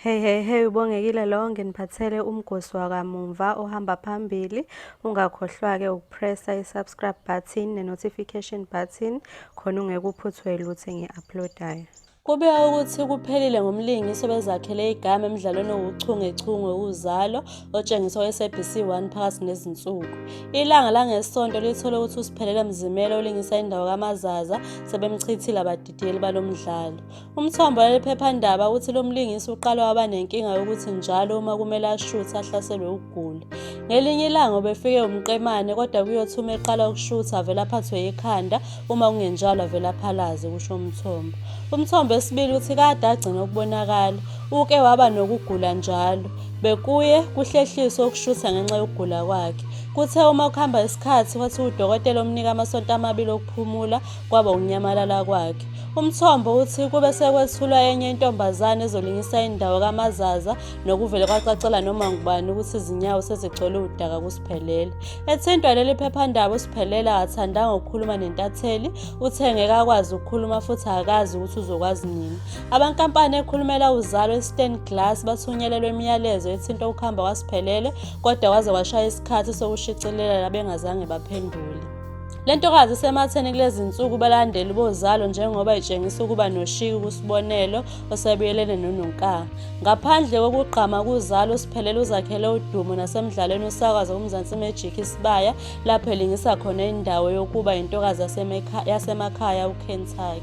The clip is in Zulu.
Hey hey hey ubongekile lo nginiphathele umgosi wakamumva ohamba phambili ungakhohlwa ke ukupressa i-subscribe button ne-notification button khona ungekuphuthwe lutho engi-uploadayo kubika ukuthi kuphelile ngomlingisi obezakhele igama emdlalweni owuchungechunge uzalo otshengiswa kwi-sabc 1 phakathi nezinsuku ilanga langesonto lithole ukuthi usiphelele mzimela olingisa indawo kamazaza sebemchithile abadidiyeli balo mdlalo Umthombo waleli phephandaba uthi lo mlingisi uqala waba nenkinga yokuthi njalo uma kumele ashuthe ahlaselwe ukugula. Ngelinye ilanga ubefike umqemane kodwa kuyothi uma eqala ukushutha avele aphathwe yikhanda uma kungenjalo avele aphalaze kusho umthombo. Umthombo esibili uthi kade agcina ukubonakala uke waba nokugula njalo bekuye kuhlehliswe ukushutha ngenxa yokugula kwakhe. Kuthe uma kuhamba isikhathi wathi udokotela omnika amasonto amabili okuphumula kwaba ukunyamalala kwakhe. Umthombo uthi kube sekwethulwa enye intombazane ezolingisa indawo kaMazaza nokuvele kwacacela noma ngubani ukuthi izinyawo sezigcwele udaka kuSiphelele. Ethintwa leli phephandaba uSiphelele akathanda-nga ukukhuluma nentatheli, uthe ngeke akwazi ukukhuluma futhi akazi ukuthi uzokwazi nini. Abankampani ekhulumela uzalo iStan Glass bathunyelelwe imiyalezo ethinta ukuhamba kwaSiphelele kodwa kwaze kwashaya isikhathi sokushicilela bengazange baphendule. Le ntokazi isematheni kulezi nsuku balandeli bozalo njengoba itshengisa ukuba noshiki kusibonelo osebuyelene nononkanga ngaphandle kokugqama kuzalo usiphelele uzakhele udumo nasemdlalweni usakwaza kumzansi magic isibaya lapho elingisa khona indawo yokuba yintokazi yasemakhaya ukentucky